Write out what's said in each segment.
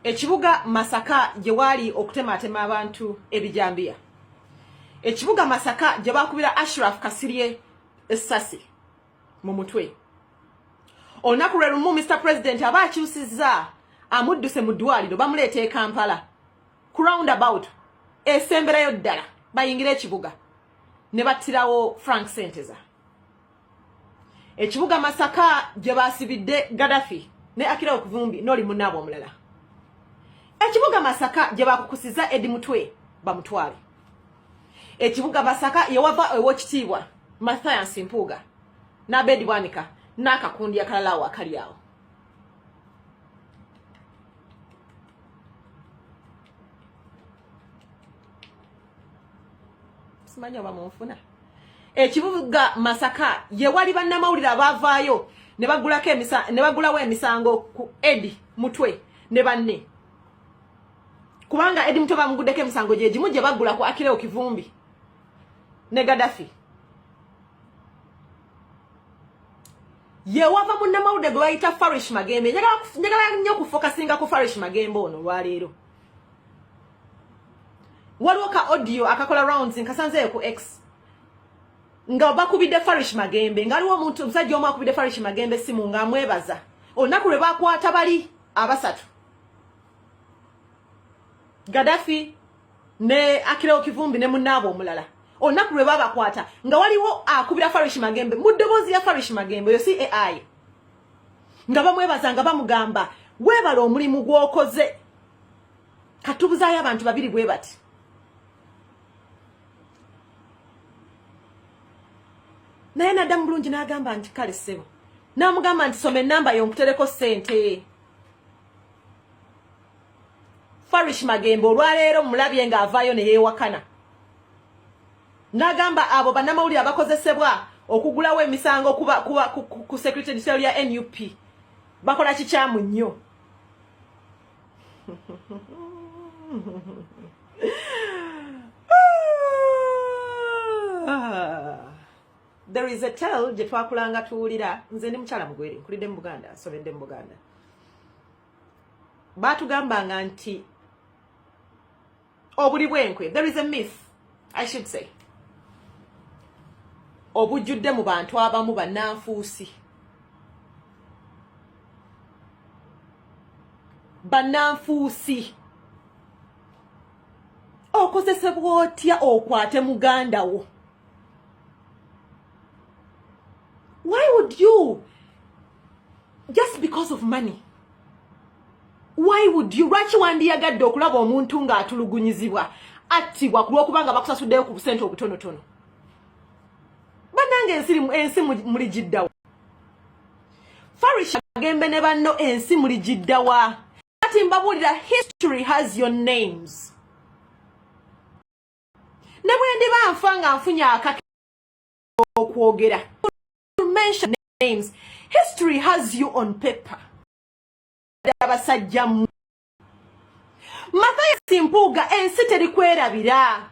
ekibuga masaka gye waali okutematema abantu ebijambiya ekibuga masaka gye bakubira ashraf kasirye essasi mu mutwe olunaku lwe lumu mr president aba akyusizza amudduse mu ddwaliro bamuleeta e kampala ku round about esemberayo ddala bayingire ekibuga ne battirawo frank senteza ekibuga masaka gye baasibidde gadafi ne akira okuvumbi noli munaabwe omulala ekibuga masaka gye bakukusiza edi mutwe bamutwale ekibuga masaka yewava ewokitiibwa mathayansi mpuuga n'abeedi bwanika n'akakundi akalala awo akali awo simanyi oba munfuna ekibuga masaka ye wali bannamawulire abaavaayo ne bagulawo emisango ku edi mutwe ne banne kubanga edi mutwe bamuguddeko emisango gye gimu gye bagula ku akireo kivumbi ne gadafi yewava munnamawulire gwe bayita farish magembe njagala nnyo okufokasinga ku farish magembe ono olwaleero waliwo ka audio akakola rounds nkasanzeeyo ku x nga bakubidde farish magembe nga waliwo omuntu omusajja omu akubidde farish magembe simu nga amwebaza olunaku lwe bakwata bali abasatu gadafi ne akireo kivumbi ne munaabo omulala olunaku lwe babakwata nga waliwo akubira farish magembe mu ddoboozi ya farish magembe oyo si ai nga bamwebaza nga bamugamba weebala omulimu gw'okoze katubuzaayo abantu babiri bwe bati naye naddamu bulungi n'agamba nti kale ssebo n'amugamba nti soma ennamba yo nkutereko ssente farish magembe olwaleero mulabye ng'avaayo ne yeewakana n'agamba abo bannamawulire abakozesebwa okugulawo emisango kuba, kuba, ku, ku, ku secretary ya nup bakola kikyamu nnyo there is a tell gye twakulanga tuwulira nze ndi mukyala mugwere nkulidde mu buganda nsobedde mu buganda baatugambanga nti obuli bwenkwe there is a myth i should say obujjudde mu bantu abamu bannanfuusi bannanfuusi okozesebwa otya okwate muganda wo why would you just because of money why would you lwaki wandiyagadde okulaba omuntu ng'atulugunyizibwa attibwa ku lw'okuba nga bakusasuddeyo ku busente obutonotono banange ensi ensi muli giddawa farish agembe ne banno ensi muli giddawa kati mbabuulira history has your names ne bwe ndiba nfa nga nfunye akake okwogera mention names history has you on paper abasajja mu Mathias Mpuuga ensi terikwerabira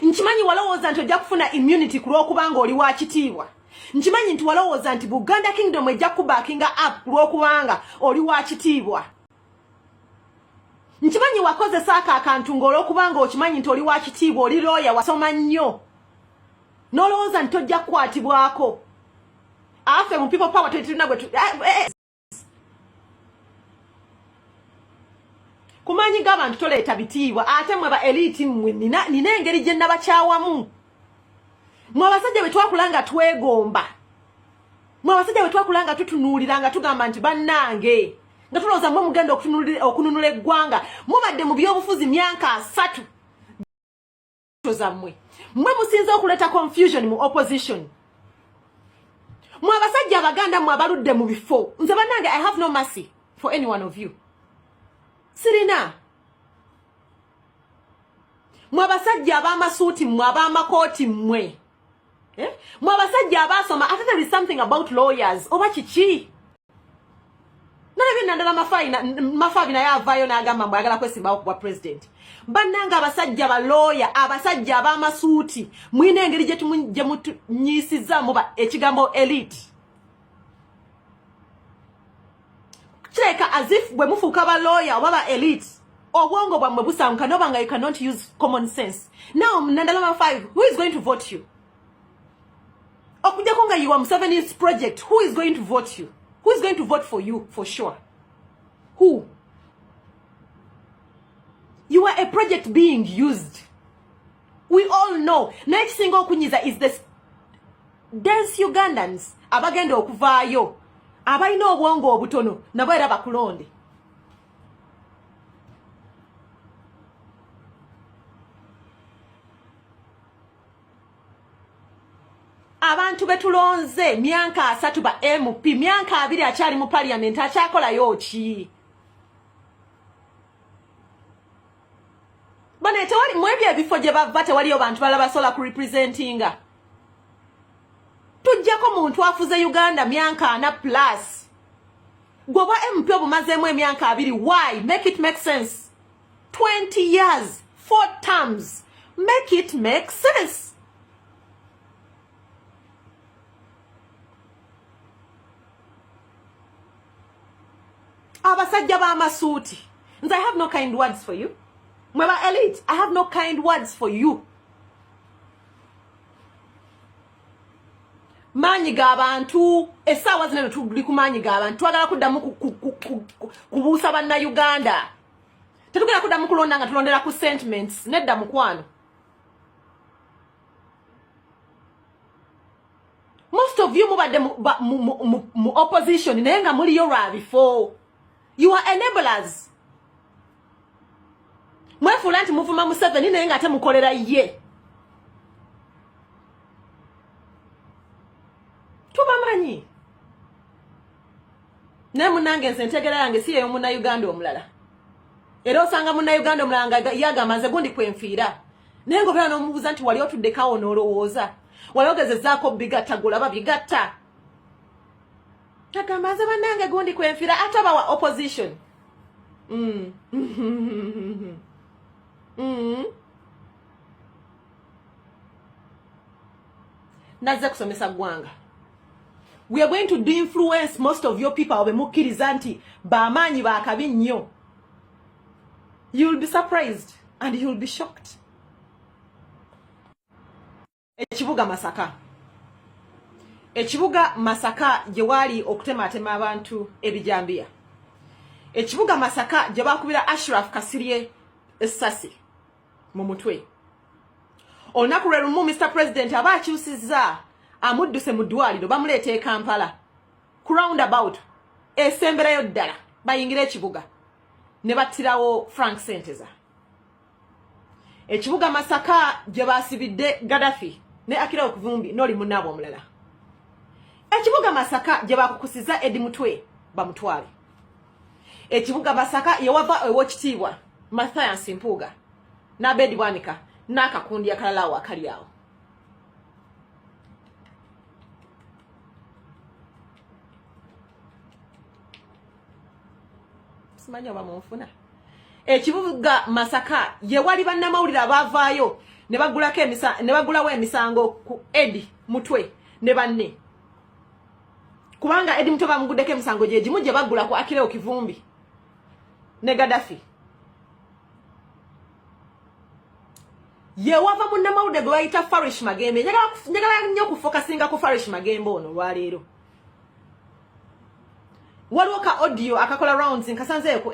nkimanyi walowooza nti ojja kufuna immunity ku lw'okuba ng'oli wa kitiibwa nkimanyi nti walowooza nti buganda kingdom ejja kubakinga up ku lw'okubanga oli wa kitiibwa nkimanyi wakozesa ako akantu ng'olw'okuba ng'okimanyi nti oli wa kitiibwa oli looya wasoma nnyo nolowooza nti tojja kukwatibwako afe mu people power tetulina gwe eh, eh. kumanyi g'abantu toleeta bitiibwa ate mwe ba eliti mmwe nina engeri gye nabakyawamu mwe abasajja bwe twakula nga twegomba mwe abasajja bwe twakula nga tutunuulira nga tugamba nti bannange nga tulowooza mwe mugenda okununula eggwanga mubadde mu byobufuzi myaka asatu zamwe mwe musinze okuleta confusion mu opposition mwe abasajja abaganda mwe abaludde mu bifo nze banange i have no mercy for any one of you sirina mwe abasajja abamasuuti mwe abamakooti mwe eh? mwe abasajja abasoma ate there is something about lawyers oba kiki nandala mafaina mafabi naye avaayo n'agamba mbu ayagala kwesimbawo kubwa president bannanga abasajja balooya abasajja ab'amasuuti mulina engeri gye mutunyiisizaamu ekigambo elite kireka as if bwe mufuuka balooya oba ba elite obwongo bwammwe busanguka noba nga you cannot use common sense now nandala mafabi who is going to vote you okujjako nga yiwa museveni's project who is going to vote you who is going to vote for you for sure who you are a project being used we all know naye kisinga okunyiza is the dense ugandans abagenda okuvaayo abalina obwongo obutono nabo era bakulonde abantu betulonze myanka asatu ba mp myanka abiri akyali mu parliament akyakolayo ki bane tewali mwebyo ebifo gye bava tewaliyo bantu bala basobola ku representinga tujjako muntu afuze uganda myanka ana plus gwe obwa mp obumazeemu emyanka abiri why make it make sense 20 years four terms make it make sense abasajja b'amasuuti nze i have no kind words for you mwe ba elite i have no kind words for you maanyi g'abantu essaawa zino tuli ku maanyi g'abantu twagala kuddamu kubuusa bannayuganda tetugenda kudda mukulonda nga tulondera ku sentiments nedda mukwano most of you mubadde mu opposition naye nga muliyo lwa bifo you are enablers mwefuula nti muvuma museveni naye nga ate mukolera ye tubamanyi naye munange nze entegera yange si yeyo munauganda omulala era osanga munauganda omulala nga yagamba nze gundi kwenfiira naye nga obeera n'omubuuza nti wali otuddekawo n'olowooza wali ogezezaako bigatta golaba bigatta tagamba nze banange gundi kwenfiira ate abawa opposition mm. mm. nazze kusomesa ggwanga we are going to do influence most of your people be mukkiriza nti bamaanyi bakabi nnyo you will be surprised and you will be shocked ekibuga masaka ekibuga masaka gye waali okutematema abantu ebijambiya ekibuga masaka gye bakubira ashraf kasirye essasi mu mutwe olunaku lwe lumu mr president aba akyusizza amudduse mu ddwaliro bamuleeta e kampala ku round about esemberayo ddala bayingira ekibuga ne battirawo frank senteza ekibuga masaka gye baasibidde gadafi ne akirawo kuvumbi noli munaabwe omulala ekibuga masaka gye bakukusiza edi mutwe bamutwale ekibuga masaka yewava ewokitiibwa mathias mpuuga nabedi bwanika n'akakundi akalala awo akali awo simanyi oba munfuna ekibuga masaka yewali bannamawulire abaavaayo ne bagulawo emisango ku edi mutwe ne banne kubanga edi muto bamugudeko emisango gyegimu gye bagula ku akireo kivumbi ne gadafi yewava munnamawulire gwe bayita farish magembe njagala nnyo okufokasinga ku farish magembe ono olwaleero waliwo ka audio akakola rounds nkasanzeeko